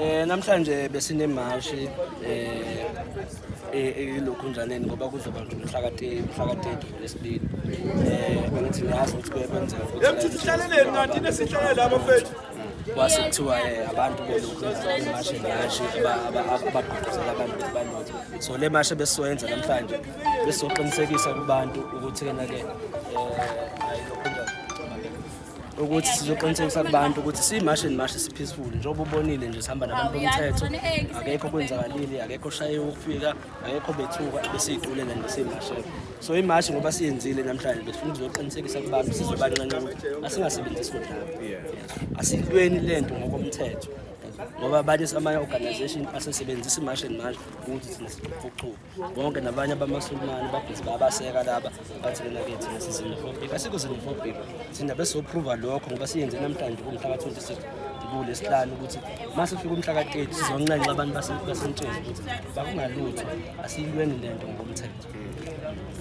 Eh namhlanje besine mashi eh elokhu e, njaneni ngoba kuzoba nje umhlakate umhlakate lesibili eh bengithi ngiyazi ukuthi kuyakwenza ukuthi emthithi hlaleleni kanti nesihlalele abafethu kwase kuthiwa eh, abantu belokhu imashe ngashe abagqugquzela abantu ukuthi balokhu so le mashe besizoyenza namhlanje besizoqinisekisa kubantu ukuthi-ke na-ke um eh, ayilokhu ukuthi sizoqinisekisa kubantu ukuthi siyimashi nimashi si-peaceful njengoba ubonile nje sihamba nabantu bomthetho akekho kwenzakalile akekho oshayiwe ukufika akekho bethuka besiyicule le nto siyimashela so imashi ngoba siyenzile namhlanje besifuna ukuzoqinisekisa kubantu sizobancanca ukuthi asingasebenzisi kodlaba asiyintweni le nto ngokomthetho ngoba abanye amanye-organization asesebenzisa imashi nimashi ukuthi thina siqhuqhuba bonke nabanye abamasulumane babhizi bayabaseka laba bathi lena ke thina sizinofobhika asikho zinofobhika thina besophruva lokho ngoba siyenze namhlanje kumhla ka-26 kule sihlanu ukuthi uma sifika umhla ka-30 sizonxenxa abantu basentsheni ukuthi bakungalutho asiyilweni le nto ngokomthetho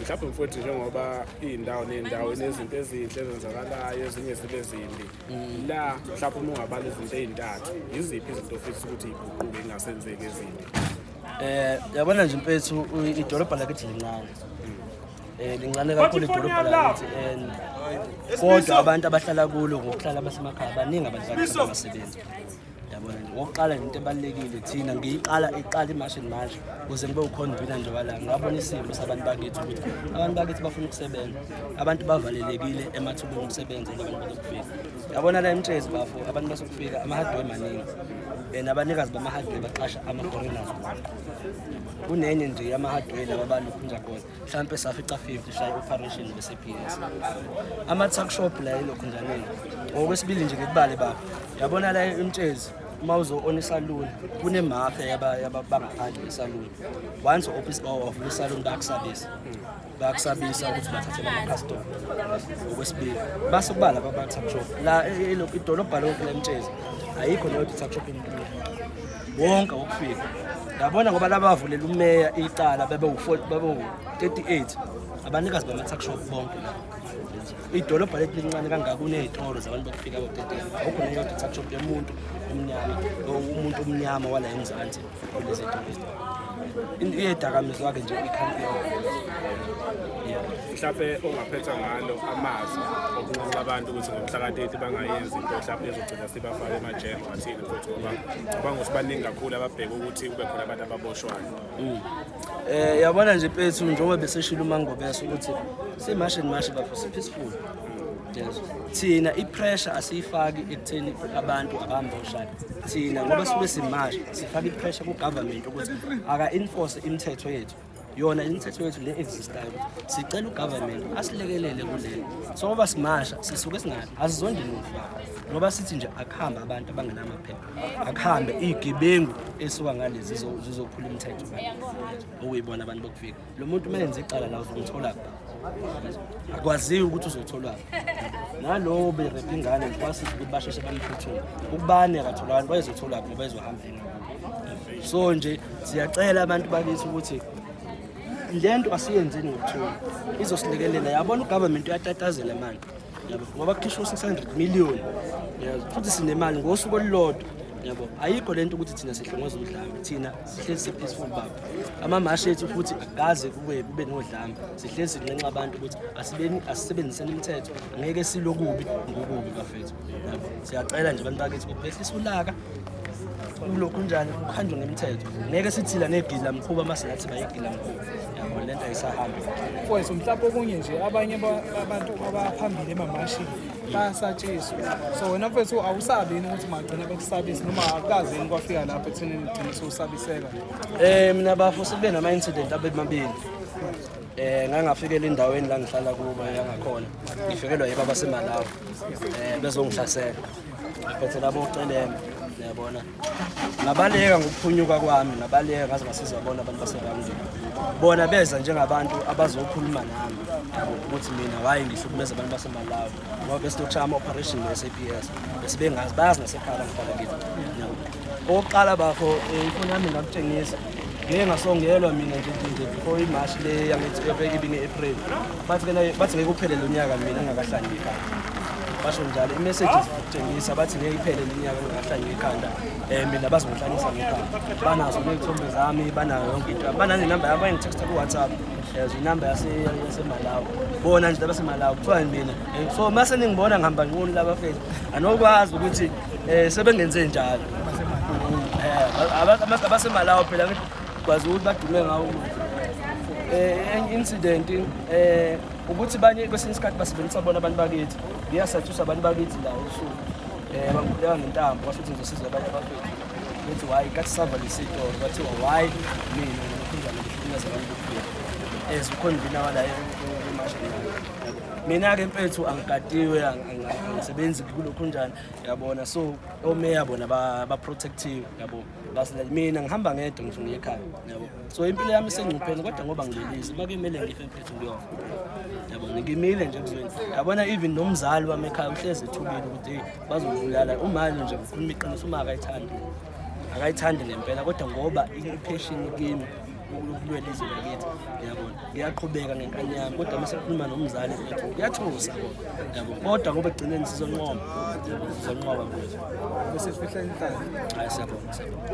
mhlawumbe mfowethu njengoba iy'ndawo ney'ndawo inezinto ezinhle ezenzakalayo ezinye zibe zimbi mm. la mhlawumbe uma ungabala izinto ey'ntathu yiziphi izinto ofisa ukuthi iguquke ingasenzeki ezimbi Eh yabona nje mfethu idolobha lakithi lincane. Eh lincane kakhulu idolobha lakithi and kodwa abantu abahlala kulo ngokuhlala basemakhaya baningi abantu abasebenzi. Yabona nje ngokuqala into ebalekile thina ngiyiqala iqala imashini manje kuze ngibe ukhona ubina nje wala ngabona isimo sabantu bakithi ukuthi abantu bakithi bafuna ukusebenza. Abantu bavalelekile emathubeni omsebenzi abantu bazokufika. yabona la emtshezi bafo abantu basokufika ama-hardware maningi and abanikazi bama-hardware baqasha ama-foreigners kunenye nje yama-hardware laba balukhunja khona mhlawumpe safica 50 shaye operation bese-ps ama-tuckshop la elokhunjaneni ngokwesibili nje ngikubale baba yabona la emtshezi uma uzo-ona isaluni kunemafya yabangaphandle isaluni once ovula isaluni bakusabisa bayakusabisa ukuthi bathathele amakhastoma okwesibili base kuba laba ba-tuck shop la e, e, idolobha lonke lemtshezi ayikho leyo tuck shop emntwini wonke wokufika yabona ngoba laba bavulela umeya icala bebe u-38 abanikazi bama-tuck shop bonke la idolobha lethu lincane kangaka kuney'tolo zabantu bokufika bo-38 awukho neyodwa tuck shop yomuntu omnyama umuntu omnyama wala emzansi iyedakamizwa ke nje ikhampani mhlawumbe ongaphetha ngalo amazwi okunxusa abantu ukuthi ngomhlaka-30 bangayenzi into mhlawumbe ezogcina sibafake emajele ngathini futhi ngoba ngicabanga ukuthi baningi kakhulu ababheke ukuthi kube khona abantu ababoshwayo um yabona nje pethu njengoba beseshile umangobesa ukuthi simashi nimashi bapho si-peaceful thina i-pressure asiyifaki ekutheni abantu abamboshayo thina ngoba sube simasha sifaka i-pressure ku-government ukuthi aka-enforce imithetho yethu yona imithetho yethu le existayo sicela ugovernment asilekelele kulelo so ngoba simasha sisuke singathi asizondi muntu ngoba sithi nje akuhambe abantu abangenamaphepha akuhambe iy'gebengu esuka ngalezi zizophula imithetho okuyibona abantu bokufika lo muntu uma enze icala la uzomthola akwaziyo ukuthi uzotholwa nalowo berepha ingane ngikwasiza ukuthi basheshe bamphuthume ukubani akatholakani bayezothola ngoba bayezohamba so nje siyacela abantu bakithi ukuthi le nto asiyenzeni ngokuthula izosilekelela yabona ugovernment uyatatazela manje yabo ngoba kukhishwa u-six hundred million futhi sinemali ngosuku olulodwa yabo ayikho le nto ukuthi thina sihlongoza udlame thina sihlezi si-peaceful baba amamashi ethu futhi akaze kube kube nodlame sihlezi sinxenxa abantu ukuthi asibeni asisebenziseni imithetho ngeke silokubi ngokubi bafethu yabo siyacela nje abantu bakithi ukuthi behlisa ulaka kulokhu njani kuhanjwe ngemithetho ngeke sithila negila mkhuba uma singathi bayigila mkhuba yabo le nto ayisahambi mfowethu mhlawumbe okunye nje abanye abantu abaphambili emamashini bayasatshiswa so wena mfethu awusabi yini ukuthi magcina bekusabise noma akukazi yini kwafika lapho ekuthenini ugcine sewusabiseka um mina bafo sekube nama-incident abemabili eh ngangafikela endaweni la ngihlala kuba yangakhona ngifikelwa yibaba semalawa eh bezongihlasela ngiphethe labo uceleme yabona ngabaleka ngokuphunyuka kwami ngabaleka ngaze ngasiza bona abantu basebangiza bona beza njengabantu abazokhuluma nami ukuthi mina waye ngihlukumeza abantu basemalawi ngoba besitokushaya ama-operation ne-s a p s besibengazi bayazi nasekhala ngihlala kithi okokuqala bafo eh, ifoni yami ngakutshengisa ngeke ngasongelwa mina nje nje before imarch le yange-april bathi kena bathi ngeke uphele lo nyaka mina ngingakahlangeki ekhanda basho njalo i-messages kutshengisa bathi ngeke iphele le nyaka ngingakahlangeki ekhanda um mina bazongihlanyisa ngekhanda banazo ney'thombe zami banayo yonke into bananenamba yami bayengithexta ku-whatsapp as inamba yasemalawi bona nje labasemalawi kuthiwa mina so uma seningibona ngihamba nquni labafethu anokwazi ukuthi um sebengenze njalo abasemalawo phela ngikwazi ukuthi badume ngawo umuzwa um incident um ukuthi banye kwesinye isikhathi basebenzisa bona abantu bakithi ngiyasathusa abantu bakithi lawo usuku um eh, bangibuleka ngentambo kwasho ukuthi ngizosiza abanye abafethu bethi hhayi kathi sava lesitoro bathiwa hhayi mina ngikhunjani ngihlukumeza abantu bokufika as ukhona ivina walayo mina-ke mfethu angigadiwe angisebenzi kulokhunjani yabona so omeya bona baprotective yabo basile mina ngihamba ngedwa ngisho ngiye ekhaya yabo so impilo yami isengcupheni kodwa ngoba ngilelise uma kumele ngife mfethu ngiyofa yabo ngimile nje kuzweni yabona even nomzali wami ekhaya uhlezi ethubile ukuthi hey bazovulala umali nje ukhuluma iqiniso uma akayithandi akayithandi ngempela kodwa ngoba i-passion kimi ukulwela izwe lakithi yabona ngiyaqhubeka ngenkani yami kodwa uma sekukhuluma nomzali wethu kuyathusa yabo kodwa ngoba ekugcineni sizonqoba sizonqoba mfethu bese sifihla inhlanhla hayi siyabonga siyabonga